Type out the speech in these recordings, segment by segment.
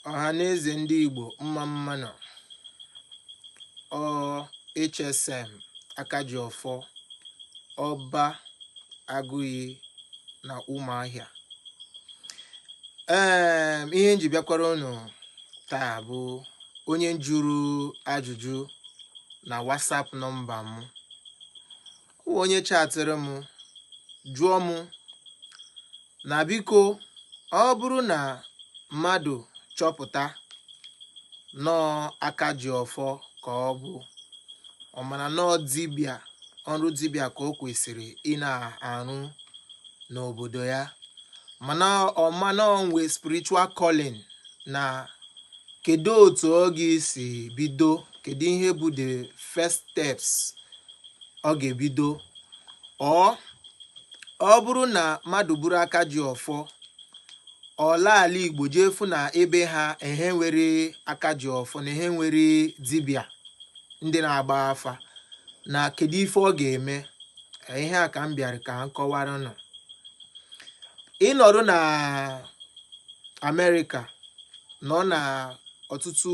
ọha na eze ndị igbo mma mma nụ ọ hsm aka ji ọfọ ọba agụiyi na ụmụahịa ee ihe nji bịakwara unu taa bụ onye jụrụ ajụjụ na whatsapp nọmba m O nwe onye chatịrị m jụọ m na biko ọ bụrụ na mmadụ chọpụta na ọ aka ji ọfọ ka ọ bụ ọ mara na ọ dibịa ọrụ dibịa ka o kwesịrị ịna-arụ n'obodo ya mana ọ ma na o nwe spiritual calling na kedu otu ọ ga-esi bido kedu ihe bụ the first steps ọ ga-ebido or ọ bụrụ na mmadụ bụrụ aka ji ọfọ ọ laa ala igbo jee fụ na ebe ha ehe nwere aka ji ọfọ na ehe nwere dibịa ndị na-agba afa na kedu ife ọ ga-eme ihe a ka m bịara ka m kọwara unu ị nọrụ na amerịka nọ na ọtụtụ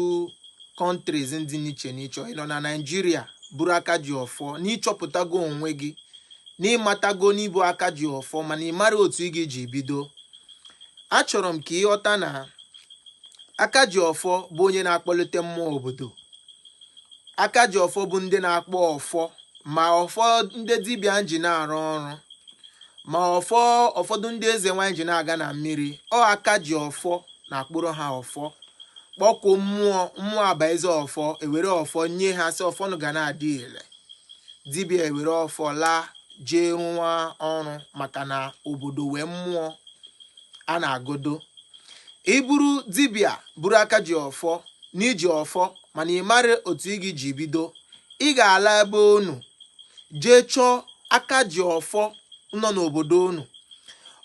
countries ndị n'iche n'iche ị nọ na Naịjirịa bụrụ aka ji ọfọ na ị chọpụtago onwe gị na ị matago na ị bụ aka ji ọfọ mana ị mara otu ị ga-eji bido achọrọ m ka ị ghọta na aka ji ọfọ bụ onye na-akpọlite mmụọ obodo aka ji ọfọ bụ ndị na-akpọ ọfọ ma ọfọ ndị dibịa ji na-arụ ọrụ ma ọfọ ụfọdụ ndị eze nwanyị ji na-aga na mmiri ọ aka ji ọfọ na-akpụrụ ha ọfọ kpọkuo mmụọ mmụọ abazie ọfọ e were ọfọ nye ha sị ọfọ nụ ga na-adị ile dibịa ewere ọfọ laa jee rụwa ọrụ maka na obodo nwe mmụọ a na-agọdo ị bụrụ dibịa bụrụ aka ji ọfọ na i ji ọfọ mana ị mara otu ị ga-eji bido ị ga-ala ebe unu jee chọọ aka ji ọfọ nọ n'obodo unu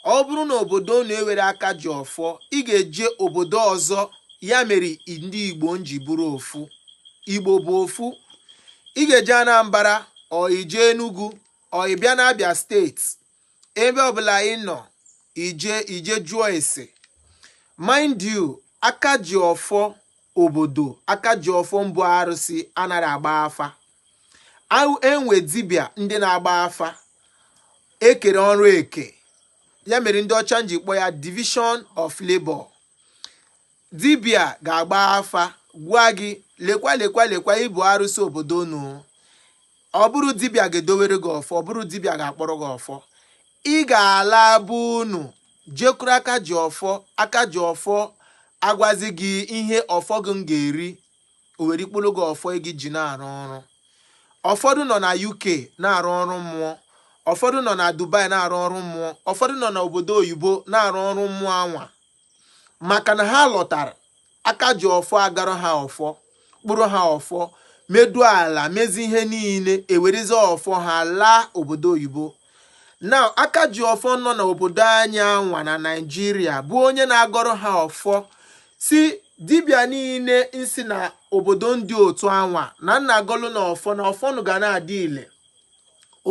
ọ bụrụ na obodo unu enweghị aka ji ọfọ ị ga-eje obodo ọzọ ya mere ndị igbo nji bụrụ ofu igbo bụ ofu ị ga-eje anambra or i je enugu or ị bịa n'abịa steeti ebe ọbụla ị nọ i je jụọ ese mind you aka ji ọfọ obodo aka ji ọfọ mbụ arụsị anaghị agba afa e nwe dibịa ndị na-agba afa e kere ọrụ eke ya mere ndị ọcha ji kpọ ya division of labor Dibia ga-agba afa gwa gị lekwa lekwa lekwa ị bụ arụsị obodo unu. Ọ bụrụ dibia ga-edowere gị ọfọ, ọ bụrụ dibia ga-akpọrọ gị ọfọ. Ị ga-ala be unu jekwuru aka ji ọfọ, aka ji ọfọ agwazi gị ihe ọfọ gị ga-eri, o were kpọọrọ gị ọfọ ị ga-eji na-arụ ọrụ. Ụfọdụ nọ na UK na-arụ ọrụ mmụọ, ụfọdụ nọ na Dubai na-arụ ọrụ mmụọ, ụfọdụ nọ n'obodo oyibo na-arụ ọrụ mmụọ anwa maka na ha lọtara aka ji ọfọ agọọrọ ha ọfọ kpụrụ ha ọfọ medu ala mezi ihe niile ewerezi ọfọ ha laa obodo oyibo na aka ji ọfọ nọ n'obodo anyị anwa na naijiria bụ onye na-agọrọ ha ọfọ sị dibịa niile nsi na obodo ndị otu anwa na m na-agọlụ unu ọfọ na ọfọ unu ga na-adị ile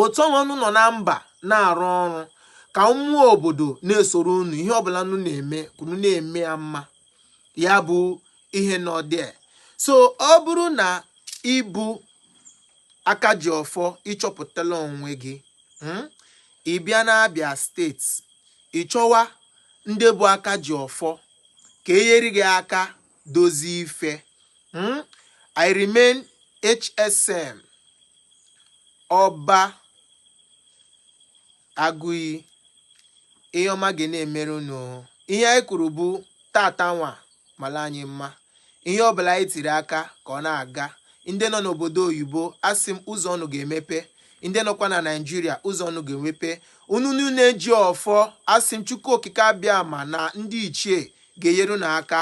otu anwa unu nọ na mba na-arụ ọrụ ka mmụọ obodo na-esoro unu ihe ọbụla unu na-eme unu na-eme ya mma ya bụ ihe nọ there so ọ bụrụ na ị bụ aka ji ọfọ ị chọpụtala onwe gị hmm, ị bịa n'Abia steeti ị chọwa ndị bụ aka ji ọfọ ka e nyere gị aka dozie ife hmm? I remain HSM Ọba Agụiyi ihe ọma ga na-emere unu ihe anyị kwuru bụ tata nwa mala anyị mma ihe ọbụla anyị tiri aka ka ọ na-aga ndị nọ n'obodo oyibo asị m ụzọ unu ga-emepe ndị nọkwa na naijiria ụzọ unu ga-emepe unu niile ji ọfọ asị m chukwu okike abịama na ndị ichie ga-enyere unu aka